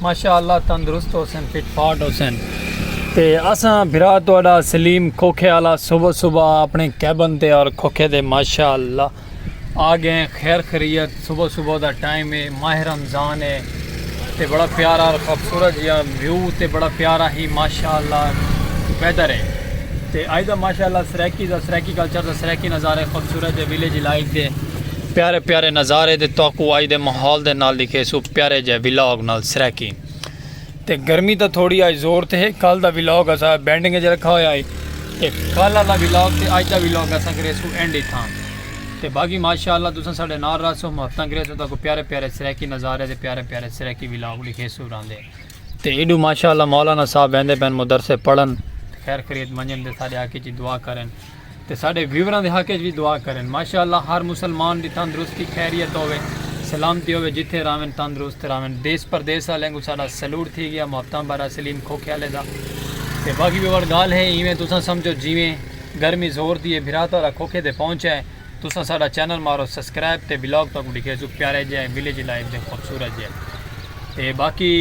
ماشاء اللہ تندرست ہوسن فٹ فاٹ ہوسن تے اساں بھرا تہاڈا سلیم کھوکھے والا صبح صبح اپنے کیبن تے اور کھوکھے دے ماشاء اللہ آ گئے خیر خیریت صبح صبح دا ٹائم ہے ماہ رمضان ہے تے بڑا پیارا اور خوبصورت جہاں ویو تے بڑا پیارا ہی ماشاء اللہ ویدر ہے تے آئی دا ماشاء اللہ سریکی دا سریکی کلچر دا سریکی نظارے خوبصورت ہے ویلیج لائف دے پیارے پیارے نظارے تے تہاکوں اج دے ماحول دے نال ڈکھیسوں پیارے جئے ولاگ نال سرائیکی تے گرمی دا تھوڑی اج زور تے ہے کل دا ولاگ اسا بینڈنگ اچ رکھا ہویا ہے تے کل والا ولاگ تے اج دا ولاگ اسا کریسوں اینڈ اتھاں تے باقی ماشاءاللہ تساں ساڈے نال رہسو محبتاں کریسو تاکو پیارے پیارے سرائیکی نظارے تے پیارے پیارے سرائیکی ولاگ ڈکھیسو راندے تے ایڈو ماشاءاللہ مولانا صاحب ویندے پن مدرسے پڑھن خیر خرید منجن تے ساڈے حق اچ دعا کرن تے ساڈے ویوراں دے حق اچ وی دعا کرن ماشاءاللہ ہر مسلمان دی تندرستی خیریت ہووے سلامتی ہووے جتھے راہون تندرست راہون دیس پردیس آلیاں کوں ساڈا سلوٹ تھی گیا محبتاں بھرا سلیم کھوکھے آلے دا تے باقی ویور گالھ ہے ایویں تساں سمجھو جیویں گرمی زور دی ہے بھرا تہاڈا کھوکھے تے پہنچا ہے۔ تساں ساڈا چینل مارو سسکرائب تے ولاگ تہاکوں ڈکھیسوں پیارے جے ولیج لائف دے خوبصورت جے تے باقی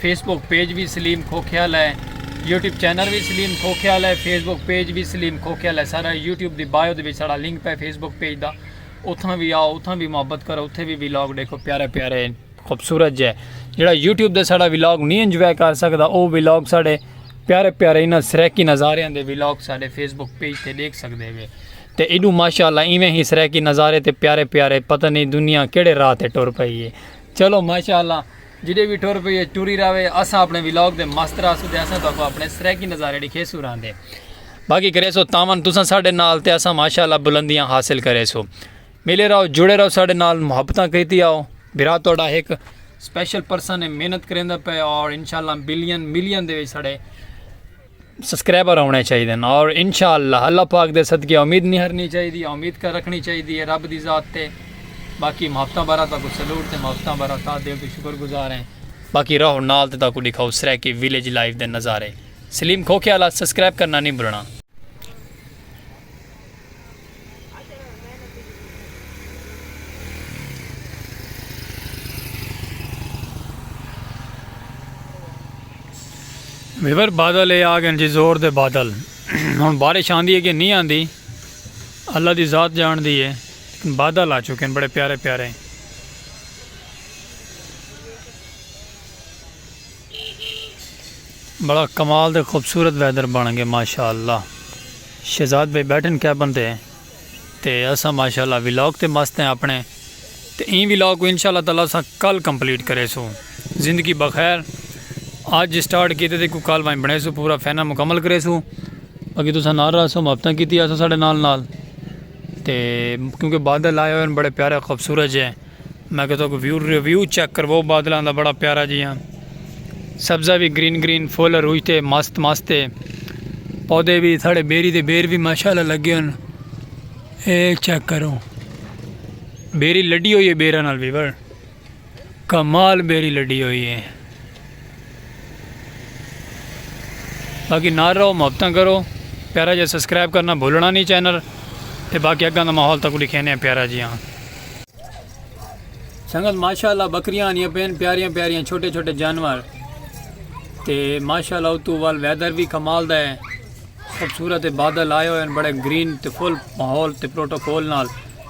فیس بک پیج وی سلیم کھوکھیال ہے یوٹیوب چینل وی سلیم کھوکھیال ہے فیس بک پیج وی سلیم کھوکھیال ہے سارا یوٹیوب دی بایو دے وچ ساڈا لنک پے فیس بک پیج دا اتھاں وی آؤ اتھاں وی محبت کرو اتھے وی ولاگ ڈیکھو پیارے پیارے خوبصورت جے جڑا یوٹیوب دے ساڑا ویلاگ نہیں انجوائے کر سکتا او ویلاگ ساڑے پیارے پیارے انہاں سریکی نظارے دے ویلاگ ساڑے فیس بک پیج تے دیکھ سکتے ہوئے تے ایڈو ماشاءاللہ ایویں ہی سریکی نظارے تے پیارے پیارے پتہ نہیں دنیا کیڑے راہ تے ٹر پئی ہے چلو ماشاءاللہ جڑے بھی ٹر پئی ہے ٹری راوے اساں اپنے ویلاگ دے مست راسو دے اساں تو اپنے سریکی نظارے دکھے سو رہن دے باقی کرے سو تاون تساں ساڑے نال تے اساں ماشاءاللہ بلندیاں حاصل کرے سو ملے رہو جڑے رہو ساڈے نال محبتاں کریتی آؤ بھرا تہاڈا ہک سپیشل پرسن ہے محنت کریندا پے اور انشاءاللہ بلین ملین دے وچ ساڈے سبسکرائبر ہونے چاہیے ہیں اور انشاءاللہ اللہ پاک دے صدقے امید نہیں ہرنی چاہیے دی امید کر رکھنی چاہیے دی ہے رب دی ذات تے باقی محبتاں برا تاکو سلوٹ تے محبتاں برا تا دے تو شکر گزار ہیں باقی رہو نال تے تاکو دکھاؤ سریکی ویلیج لائف دے نظارے سلیم کھوکے والا سبسکرائب کرنا نہیں بھولنا ویور بادل اے آ گئے جی زور دے بادل ہن بارش آندی ہے کہ نہیں آندی اللہ دی ذات جان دی ہے بادل آ چکے ہیں بڑے پیارے پیارے بڑا کمال دے خوبصورت ویدر بن گئے ماشاءاللہ شہزاد بھائی بیٹھن کیبن تے تے اساں ماشاءاللہ ولاگ تے مست ہیں اپنے تے این ولاگ کو انشاءاللہ تعالی اساں کل کمپلیٹ کرے سو زندگی بخیر آج سٹارٹ کیتے تے کو کل وائیں بنے سو پورا فینا مکمل کرے سو اگے تو ساں نال رہا سو محبتہ کیتی آسو ساڑھے نال نال تے کیونکہ بادل آئے ہوئے ہیں بڑے پیارے خوبصورت جے میں کہہ تک ویو ریویو چیک کرواؤ بادلاں دا بڑا پیارا جیاں سبزہ وی گرین گرین فل اروج تے مست مست تے پودے وی ساڑے بیری دے بیر وی ماشاءاللہ لگے ہن اے چیک کرو بیری لڈی ہوئی ہے بیرا نال بھی بڑ کمال بیری لڈی ہوئی ہے باقی نار رہو محبتاں کرو پیارا جی سبسکرائب کرنا بھولنا نہیں چینل تے باقی اگاں دا ماحول تک دکھینے ہیں پیارا جی ہاں سنگت ماشاءاللہ بکریاں آنیاں پین پیاریاں پیاریاں چھوٹے چھوٹے جانور تے ماشاءاللہ اتو وال ویدر بھی کمال دا ہے خوبصورت بادل آئے ہوئے ہیں بڑے گرین تے فل ماحول تے پروٹوکول نال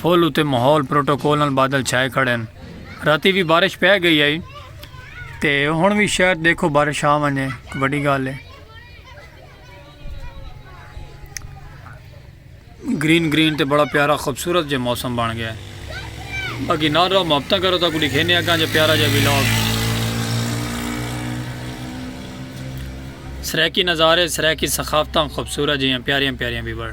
پھل اتے ماحول پروٹوکول نال بادل چھائے کھڑے ہن راتی وی بارش پے گئی ہئی تے ہن وی شاید دیکھو بارش آ ونجے وڈی گال ہے گرین گرین تے بڑا پیارا خوبصورت جے موسم بن گیا ہے باقی نہ رہو محبت کرو تو لکھے نہیں اگاں جے پیارا جے ویلاگ سریکی نظارے سریکی ثقافتاں خوبصورت جیاں پیاریاں پیاریاں بھی بڑھ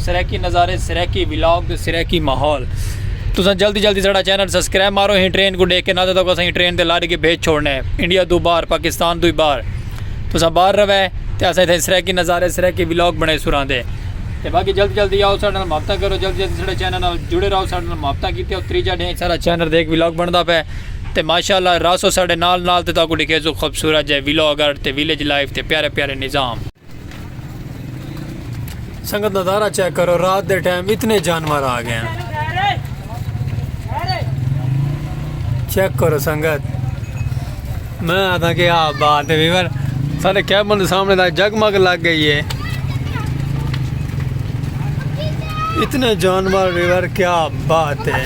سرائیکی نظارے سرائیکی ولاگ سرائیکی ماحول تساں جلدی جلدی ساڑا چینل سبسکرائب مارو ہیں ٹرین کو ڈیکھ کے نہ تھا اساں ٹرین دے لارے کے بھیج چھوڑنے انڈیا دو بار پاکستان دو بار تساں بار روے تے اساں تھے سرائیکی نظارے سرائیکی ولاگ بنے سراں دے تے باقی جلدی جلدی آؤ ساڑا محبتہ کرو جلدی جلدی ساڑا چینل نال جڑے رہو ساڑا محبتہ کیتے ہو تریجا ڈھیں ساڑا چینل دیکھ ولاگ بندا پے تے ماشاءاللہ راسو ساڑے نال نال تے تاکو ڈکھے سو خوبصورت جے ولاگ ارٹ تے ویلیج لائف تے پیارے پیارے نظام سنگت نظارہ چیک کرو رات دے ٹائم اتنے جانور آ گئے ہیں چیک کرو سنگت میں آتا کہ آپ بات ہے ویور سارے کیبن دے سامنے دا جگ مگ لگ گئی ہے اتنے جانور ویور کیا بات ہے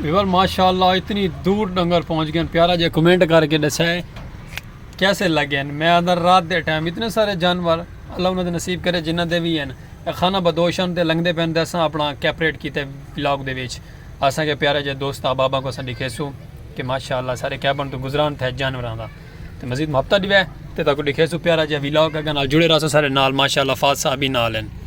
ویور ماشاءاللہ اتنی دور ڈنگر پہنچ گئے پیارا جے کمنٹ کر کے دسا ہے کیسے لگے ہیں میں اندر رات دے ٹائم اتنے سارے جانور اللہ انہوں نے نصیب کرے جنہ دے بھی ہیں خانہ بدوشن دے لنگ دے پہن دے اساں اپنا کیپریٹ کیتے ولاگ دے ویچ اساں کے پیارا جے دوست آبابا کو سن دکھے سو کہ ماشاءاللہ سارے کیبن تو گزران تھے جانور آندا تو مزید محبتہ دیوے تے تاکو دکھے سو پیارا جے ولاگ اگر نال جڑے رہا سو سارے نال ماشاءاللہ فاض صاحبی نال ہیں